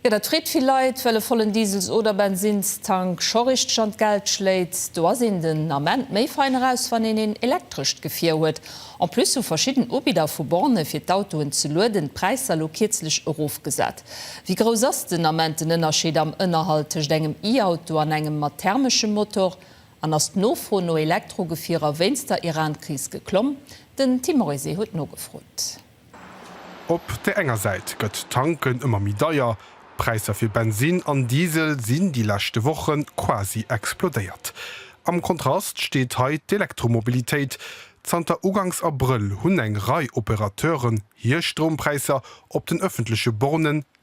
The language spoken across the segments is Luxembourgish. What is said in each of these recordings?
Jo, dat freet vill Leit, well e vollen Diesels oder Bensinnstank scho richteg an d'Geld schléit. Do ass een den Ament méi fein eraus, wann een een elektrescht Gefier huet. En plus hu verschidden Ubidder vu Bornë fir d'Autoen ze lueden d'Präisser lo kierzlech erofgesat. Wéi grouss ass den Ament den Ënnerscheed am Ënnerhalt tëscht engem E-Auto an engem mat thermeschem Motor? An ass d'Nofro no Elektrogefierer wéinst der Iran-Kris geklomm? Den Tim Morizet huet nogefrot. Op där enger Säit gëtt d'Tanken ëmmer méi deier. D'Präisser fir Bensin an Diesel sinn déi leschte Woche quasi explodéiert. Am Kontrast steet hei d'Elektromobilitéit. Zanter ugangs Abrëll hunn eng Rei Opérateuren hir Stroumpräisser op den ëffentleche Bornen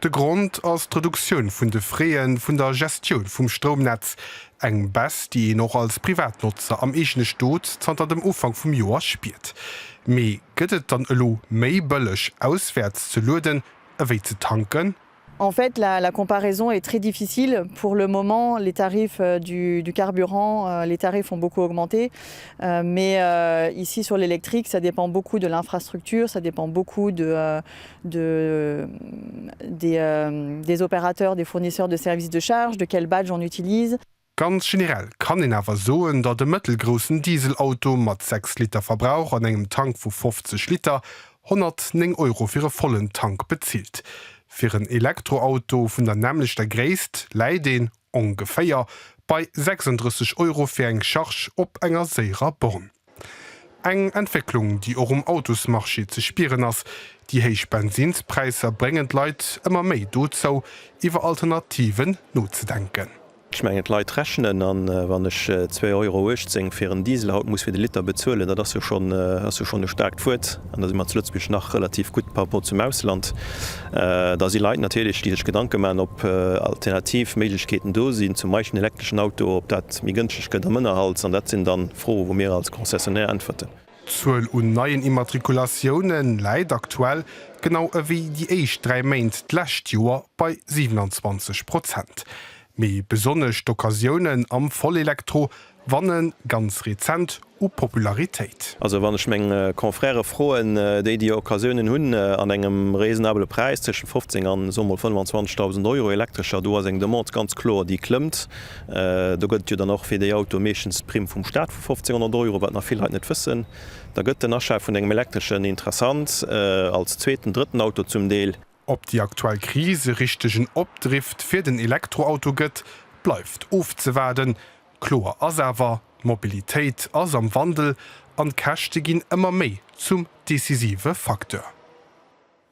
De Grond ass d'Reduktioun vun de Frais vun der Gestioun vum Stroumnetz, eng Baisse, déi een och als Privatnotzer am eegene Stot zanter dem Ufank vum Joer spiert. Mee gëtt et dann elo méi bëlleg auswäerts ze lueden ewéi ze tanken? En fait, la comparaison est très difficile. Pour le moment, les tarifs du carburant, les tarifs ont beaucoup augmenté. Mais ici, sur l'électrique, ça dépend beaucoup de l'infrastructure, ça dépend beaucoup de des opérateurs, des fournisseurs de services de charge, de quel badge on utilise. Ganz generell kann een awer soen, datt e mëttelgroussen Dieselauto mat 6 Liter Verbrauch an engem Tank vu 50 Liter 109 Euro fir e vollen Tank bezilt. Fir en Elektroauto vun der nämmlechter Gréisst läit een, ongeféier, bei 36 Euro fir eng Charge op enger séierer Borne. Eng Entwécklung, déi och um Autosmarché ze spieren ass. Déi héich Bensinspräisser bréngen d'Leit ëmmer méi dozou, iwwer Alternativen nozedenken. Ech mengen, d'Leit rechnen, a wann ech zwee Euro 18 fir en Diesel haut muss fir de Liter bezuelen, dat ass jo schonn, ass jo schonn e staarkt Wuert, an da si mer zu Lëtzebuerg nach relativ gutt par rapport zum Ausland, da si Leit natierlech, déi sech Gedanke maachen, ob alternativ Méiglechkeeten do sinn, zum Beispill en elektreschen Auto, ob dat méi gënschteg gëtt am Ënnerhalt, an dat sinn dann. Fro wou mir als Concessionnaire äntwerten. D'Zuel un neien Immatrikulatiounë läit aktuell, genau ewéi déi éischt dräi Méint d'lescht Joer, bei 27 Prozent. Mee besonnesch d'Occasiounen am Vollelektro wanne ganz rezent u Popularitéit. Also wann ech meng Confrèrë froen, déi déi Occasiounen hunn an engem raisonnabele Präis, tëschent 15 an soe mol 25.000 Euro, Elektrescher, do ass eng Demande ganz kloer, déi klëmmt. Do gëtt et jo dann och fir déi Autoe meeschtens d'Primm vum Staat vu 1500 Euro, wat nach vill Leit net wëssen. Da gëtt den Achat vun engem Elektreschen interessant, als zweeten, drëtten Auto zum Deel. Ob déi aktuell Kris e richtegen Opdrift fir den Elektroauto gëtt, bleift ofzewaarden. Kloer ass awer, d'Mobilitéit ass am Wandel an d'Käschte ginn ëmmer méi zum decisive Facteur.